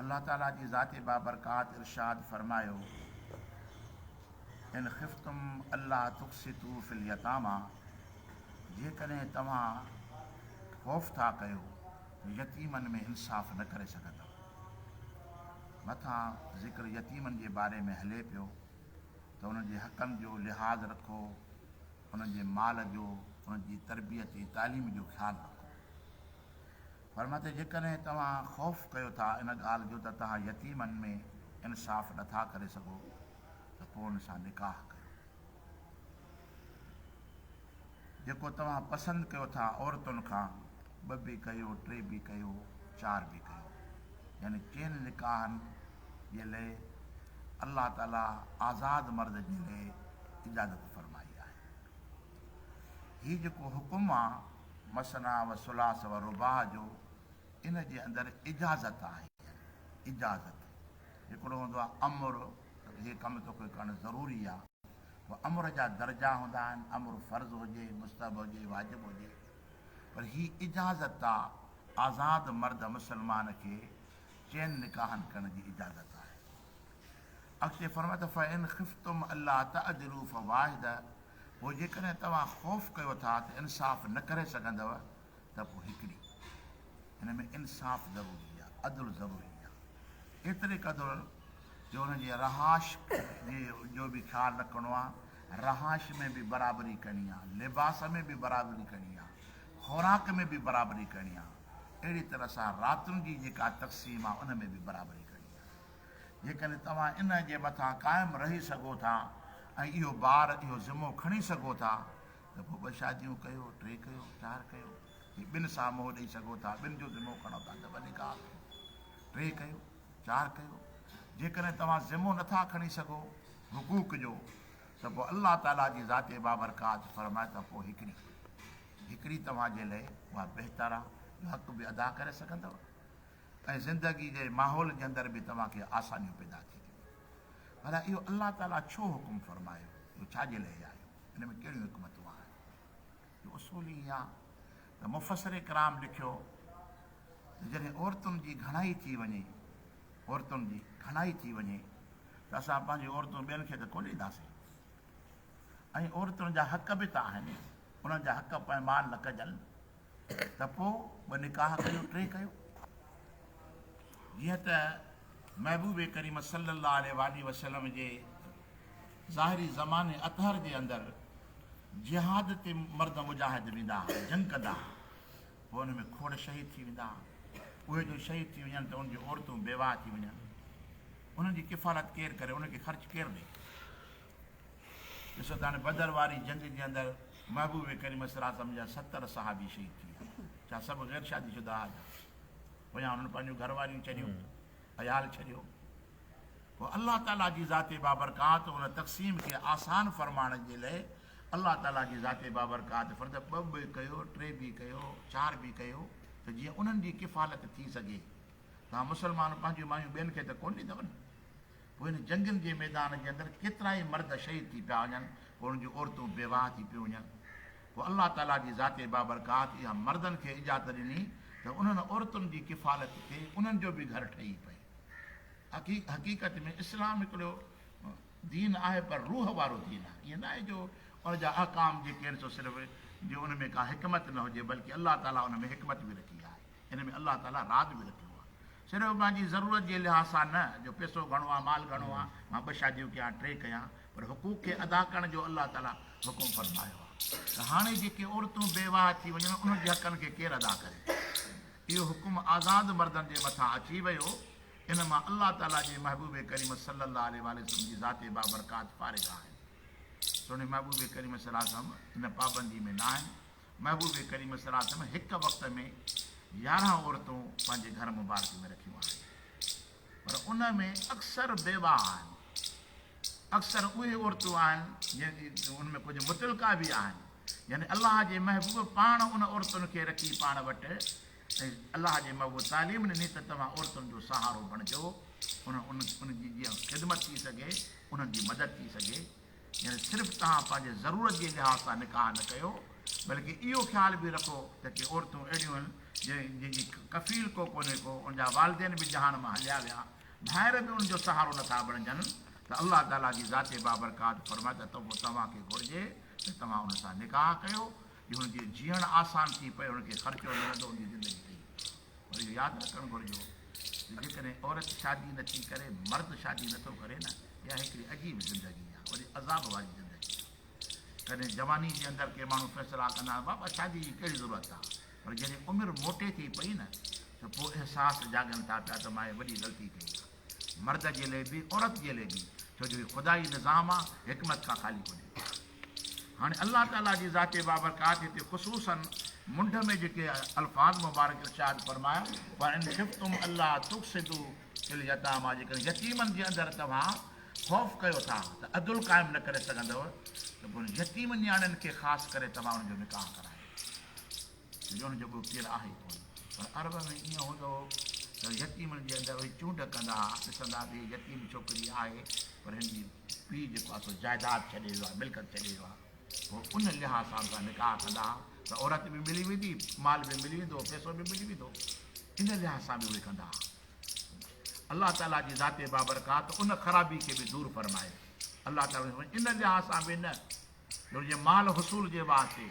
الله تعالي جي ذات بابرڪات ارشاد فرمايو، ان خفتم الا تقسطو في اليتاميٰ، جيڪڏهن توهان خوف ٿا ڪيو ته يتيمن ۾ انصاف نه ڪري سگهندؤ. مٿان ذڪر يتيمن جي باري ۾ هلي پيو ته انهن جي حقن جو لحاظ رکو، انهن جي مال جو، انهن جي تربيت ۽ تعليم جو خيال رکو. فرمايو ته جيڪڏهن توهان خوف ڪيو ٿا ان ڳالهه جو ته توهان يتيمن ۾ انصاف نه ٿا ڪري سگهو ته پوء ان سان نڪاح ڪريو جيڪو توهان پسند ڪيو ٿا عورتن کان ٻه به ڪيو ٽي به ڪيو چار به ڪيو يعني چئن نڪاحن جي لئه الله تعالي آزاد مرد جي لئه اجازت فرمائي آهي هي جيڪو حڪم آ مثنيٰ و ثلاث و رباع جو ان جي اندر اجازت آهي اجازت هڪڙو هوندو آهي امر ته هي ڪم توکي ڪرڻ ضروري آهي پوء امر جا درجا هوندا آهن امر فرض هجي مستحب هجي واجب هجي پر هي اجازت آ آزاد مرد مسلمان کي چئن نڪاحن ڪرڻ جي اجازت آهي اڳتي فرمائي ٿو فان خفتم الا تعدلوا فواحده پوء جيڪڏهن توهان خوف ڪيو ٿا ته انصاف نه ڪري سگهندؤ ته پوء هڪڙي هن ۾ انصاف ضروري آهي، عدل ضروري آهي، ايتري قدر جو انهن جي رهائش جي جو به خيال رکڻو آهي، رهائش ۾ به برابري ڪرڻي آهي، لباس ۾ به برابري ڪرڻي آهي، خوراڪ ۾ به برابري ڪرڻي آهي، اهڙي طرح سان راتن جي جيڪا تقسيم آهي ان ۾ به برابري ڪرڻي آهي. جيڪڏهن توهان ان جي مٿان قائم رهي سگهو ٿا ۽ اهو بار، اهو ذمو کڻي سگهو ٿا ته پوء ٻه شاديون ڪيو، ٽي ڪيو، چار ڪيو. جي ٻن سان منهن ڏئي سگهو ٿا، ٻن جو ذمو کڻو ٿا ته ٻه نڪاح ڪيو، ٽي ڪيو، چار ڪيو. جيڪڏهن توهان ذمو نٿا کڻي سگهو حقوق جو ته پوء الله تعاليٰ جي ذات بابرڪات فرمائي ته پوء هڪڙي، هڪڙي توهان جي لئه اها بهتر آ جو حق به ادا ڪري سگهندؤ. ۽ زندگي جي ماحول جي اندر به توهان کي آسانيون پيدا ٿي ٿيون ٿين. ڀلا اهو الله تعاليٰ ڇو حڪم فرمايو؟ اهو ڇا جي لئه آيو؟ ان ۾ ڪهڙيون حڪمتون آهن؟ اهو اصول ئي اها ته مفسر ڪرام لکيو ته جڏهن عورتن جي گهڻائي ٿي وڃي، عورتن جي گهڻائي ٿي وڃي ته اسان پنهنجون عورتون ٻين کي ته ڪونه ڏينداسين ۽ عورتن جا حق به ته آهن، انهن جا حق پوء مال نه ڪجن. ته پوء ٻه نڪاح ڪيو ٽي ڪيو جيئن ته محبوب ڪريم صلي الله عليه واٰله وسلم جي ظاهري زماني اطهر جي اندر جهاد تي مرد مجاهد ويندا ها جنگ ڪندا ها پوء ان ۾ کوڙ شهيد ٿي ويندا ها اهي جو شهيد ٿي وڃن ته ان جي عورتون بيواهه ٿي وڃن انهن جي ڪفالت ڪير ڪري ان کي خرچ ڪير ڏي ڏسو ته هاڻي بدر واري جنگ جي اندر محبوب ڪريم صلّي الله عليه وسلّم جا ستر صحابي شهيد ٿي ويا جا سڀ غير شادي شده ها جا پويان انهن پنهنجون گهر واريون چريون عيال چريو پوء الله تعاليٰ جي ذات بابرڪات ان تقسيم کي آسان فرمائڻ جي لئي الله تعاليٰ جي ذات بابرڪات فرد ٻه به ڪيو ٽي به ڪيو چار به ڪيو ته جيئن انهن جي ڪفالت ٿي سگهي تان مسلمان پنهنجون مايون ٻين کي ته ڪون ڏيندو نه پوء هن جنگين جي ميدان جي اندر ڪيترائي مرد شهيد ٿي پيا وڃن، پوء انهن جون عورتون بيواهه ٿي پيون وڃن. پوء الله تعاليٰ جي ذات بابرڪات اها مردن کي اجازت ڏني ته انهن عورتن جي ڪفالت ٿئي، انهن جو به گهر ٺهي پئي. حقيقت ۾ اسلام هڪڙو دين آهي پر روح وارو دين آهي. ائين نه آهي جو ان جا احڪام جيڪي آهن سو صرف جو ان ۾ ڪا حڪمت نه هجي بلڪه الله تعاليٰ ان ۾ حڪمت به رکي آهي. ان ۾ الله تعاليٰ راز به رکيو آهي. صرف پنهنجي ضرورت جي لحاظ سان نه جو پيسو گهڻو آهي، مال گهڻو آهي، مان ٻه شاديون ڪيان، ٽي ڪيان، پر حقوق کي ادا ڪرڻ جو الله تعاليٰ حڪم فرمايو آهي ته هاڻي جيڪي عورتون بيواهه ٿي وڃن انهن جي حقن کي ڪير ادا ڪري؟ اهو حڪم آزاد مردن جي مٿان اچي ويو. ان مان الله تعاليٰ جي محبوب ڪريم صلّي الله عليه واٰله وسلّم جي ذات بابرڪات فارغ آهن. سهڻي محبوب ڪريم صلّي الله عليه وسلّم ان پابندي ۾ ناهن. محبوب ڪريم صلي الله عليه وسلم هڪ وقت ۾ يارهن عورتون پنهنجي گهر مبارڪ ۾ رکيون آهن پر ان ۾ اڪثر بيواء آهن اڪثر اهي عورتون آهن جن جي ان ۾ ڪجهه متلقا به آهن يعني الله جي محبوب پاڻ ان عورتن کي رکي پاڻ وٽ الله جي محبوب تعليم ڏني ته توهان عورتن جو سهارو بڻجو ان ان جي جيئن خدمت ٿي سگهي انهن جي مدد ٿي سگهي يعني صرف توهان پنهنجي ضرورت جي لحاظ سان نڪاح نه ڪيو بلڪ اهو خيال به رکو ته ڪي عورتون اهڙيون آهن جن جي ڪفيل ڪو ڪونهي ڪو ان جا والدين به جهان مان هليا ويا ڀائر به ان جو سهارو نه ٿا بڻجن ته الله تعاليٰ جي ذات بابرڪات فرمائي ته پوء توهان کي گهرجي ته توهان ان سان نڪاح ڪيو جو هن جي جيئڻ آسان ٿي پئي، هن کي خرچو نه رهندو، هن جي زندگي ٺهي. پر اهو ياد رکڻ گهرجو ته جيڪڏهن عورت شادي نه ٿي ڪري، مرد شادي نه ٿو ڪري نه، اها هڪڙي عجيب زندگي آهي، وڏي عذاب واري زندگي آهي. ڪڏهن جواني جي اندر ڪي ماڻهو فيصلا ڪندا آهن، بابا شادي جي ڪهڙي ضرورت آهي، پر جڏهن عمر موٽي ٿي پئي نه ته پوء احساس جاڳن ٿا پيا ته مان هيء وڏي غلطي ڪئي آهي. مرد جي لئه به، عورت جي لئه به، ڇو جو هي خدائي نظام آهي، حڪمت کان خالي ڪونهي. هاڻي الله تعالي جي ذات بابرڪات هتي خصوصاً منڍ ۾ جيڪي الفاظ مبارڪ ارشاد فرمايا، وَإِن خِفْتُمْ أَلَّا تُقْسِطُوا فِي الْيَتَامَىٰ جيڪڏهن يتيمن جي اندر توهان خوف ڪيو ٿا ته عدل قائم نه ڪري سگهندؤ ته پوء يتيم نياڻين کي خاص ڪري توهان انهن جو نڪاح ڪرايو ڇو جو انهن جو ٻيو ڪير آهي ئي ڪونه پر عرب ۾ ائين هوندو هو ته يتيمن جي اندر اهي چونڊ ڪندا ها، ڏسندا ته هي يتيم ڇوڪري آهي پر هن جي پيء جيڪو آهي سو جائداد ڇڏي ويو آهي، ملڪيت ڇڏي ويو آهي، پوء ان لحاظ سان اسان نڪاح ڪندا ها ته عورت به ملي ويندي، مال به ملي ويندو، پيسو به ملي ويندو، ان لحاظ سان به اهي ڪندا ها. الله تعاليٰ جي ذات بابرڪات ان خرابي کي به دور فرمائي. الله تعاليٰ فرمائي، ان لحاظ سان به نه. جو جي مال حصول جي واسطي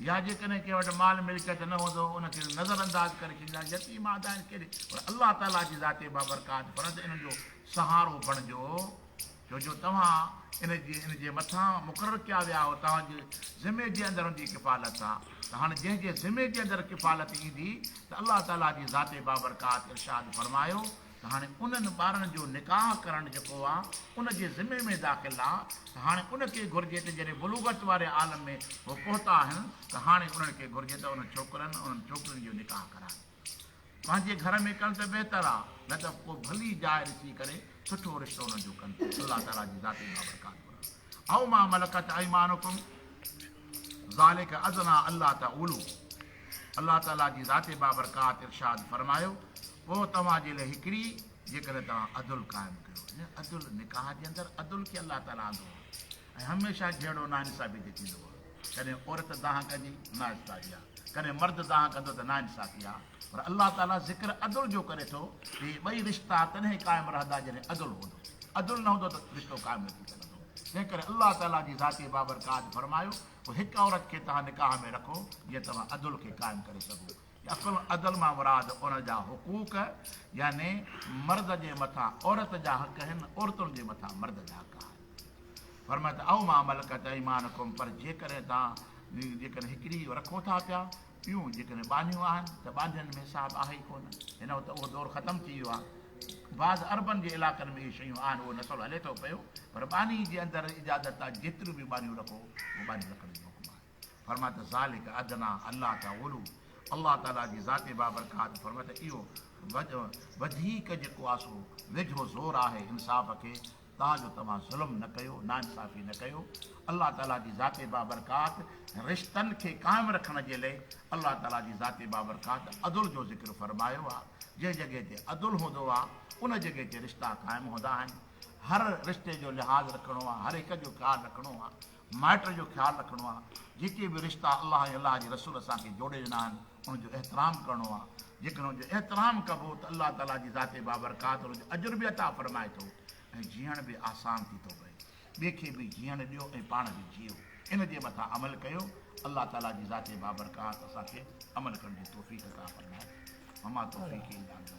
يا جيڪڏهن ڪنهن وٽ مال ملڪيت نه هوندو ان کي نظر انداز ڪري ڇڏيندا يتيم آد آهن ڪهڙي پر الله تعالي جي ذاتي بابرڪات فرد انهن جو سهارو بڻجو جو جو توهان ان جي ان جي مٿان مقرر ڪيا ويا آهو توهان جي ذمي جي اندر هوندي ڪفالت ته هاڻي جنهن جي ذمي جي اندر ڪفالت ايندي ته الله تعالي جي ذاتي بابرڪات ارشاد فرمايو ته هاڻي انهن ٻارن جو نڪاح ڪرڻ جيڪو آ ان جي ذمي ۾ داخل آ ته هاڻي ان کي گهرجي ته جڏهن بلوغت واري عالم ۾ هو پهتا آهن ته هاڻي انهن کي گهرجي ته انهن ڇوڪرن انهن ڇوڪرين جو نڪاح ڪرائن پنهنجي گهر ۾ ڪن ته بهتر آ نه ته ڪو ڀلي جاء ڏسي ڪري سٺو رشتو انهن جو ڪن الله تعالي جي ذاتي بابرڪات ورحمت. او ما ملڪت ايمانڪم ذلک ادنٰي الا تعولو الله تعاليٰ جي ذات بابرڪات ارشاد فرمايو پوء توهان جي لاء هڪڙي جيڪڏهن توهان عدل قائم ڪيو يعني عدل نڪاح جي اندر عدل کي الله تعاليٰ آندو آهي ۽ هميشه جهيڙو ناانصافي تي ٿيندو آهي ڪڏهن عورت دانهن ڪندي نااستاهي آهي ڪڏهن مرد دانهن ڪندو ته ناانصافي آهي پر الله تعالي ذڪر عدل جو ڪري ٿو ته اهي ٻئي رشتا تڏهن قائم رهندا جڏهن عدل هوندو، عدل نه هوندو ته رشتو قائم نه ٿي سگهندو، تنهنڪري الله تعالي جي ذات بابرڪات فرمايو ته هڪ عورت کي توهان نڪاح ۾ رکو جيئن توهان عدل کي قائم ڪري سگهو يا عدل مان مراد ان جا حقوق يعني مرد جي مٿان عورت جا حق آهن عورتن جي مٿان مرد جا حق آهن فرمايو ته او ما ملڪت ايمانڪم پر جيڪڏهن توهان جيڪڏهن هڪڙي رکو ٿا پيا ٽيون، جيڪڏهن ٻانهيون آهن ته ٻانهين ۾ صاحب آهي ئي ڪونه. هن وقت اهو دور ختم ٿي ويو آهي. بعض عربن جي علاقن ۾ اهي شيون آهن، اهو نسل هلي ٿو پيو، پر ٻانهي جي اندر اجازت آهي جيتريون به ٻانهيون رکو، اهو ٻانهي رکڻ جو حڪم آهي. فرمايو ته ذلک ادنٰي الا تعولوا الله تعاليٰ جي ذات بابرڪات فرمايو ته اهو وڌيڪ جيڪو آسو ويجهو زور آهي انصاف کي، تان جو توهان ظلم نه ڪيو، ناانصافي نه ڪيو. الله تعاليٰ جي ذات بابرڪات رشتن کي قائم رکڻ جي لئه الله تعاليٰ جي ذات بابرڪات عدل جو ذڪر فرمايو آهي. جنهن جڳهه تي عدل هوندو آهي، ان جڳهه تي رشتا قائم هوندا آهن. هر رشتي جو لحاظ رکڻو آهي، هر هڪ جو خيال رکڻو آهي. مائٽ جو خيال رکڻو آهي، جيڪي به رشتا الله ۽ الله جي رسول اسان کي جوڙي ڏنا آهن، ان جو احترام ڪرڻو آهي، جيڪڏهن ان جو احترام ڪبو ته الله تعاليٰ جي ذات بابرڪات ان جو اجر به عطا فرمائي ٿو ۽ جيئڻ به آسان ٿي ٿو پئي، ٻئي کي به جيئڻ ڏيو ۽ پاڻ به جيئو، ان جي مٿان عمل ڪيو، الله تعاليٰ جي ذات بابرڪات اسان کي عمل ڪرڻ جي توفيق عطا فرمائي، وما توفيقي الا بالله.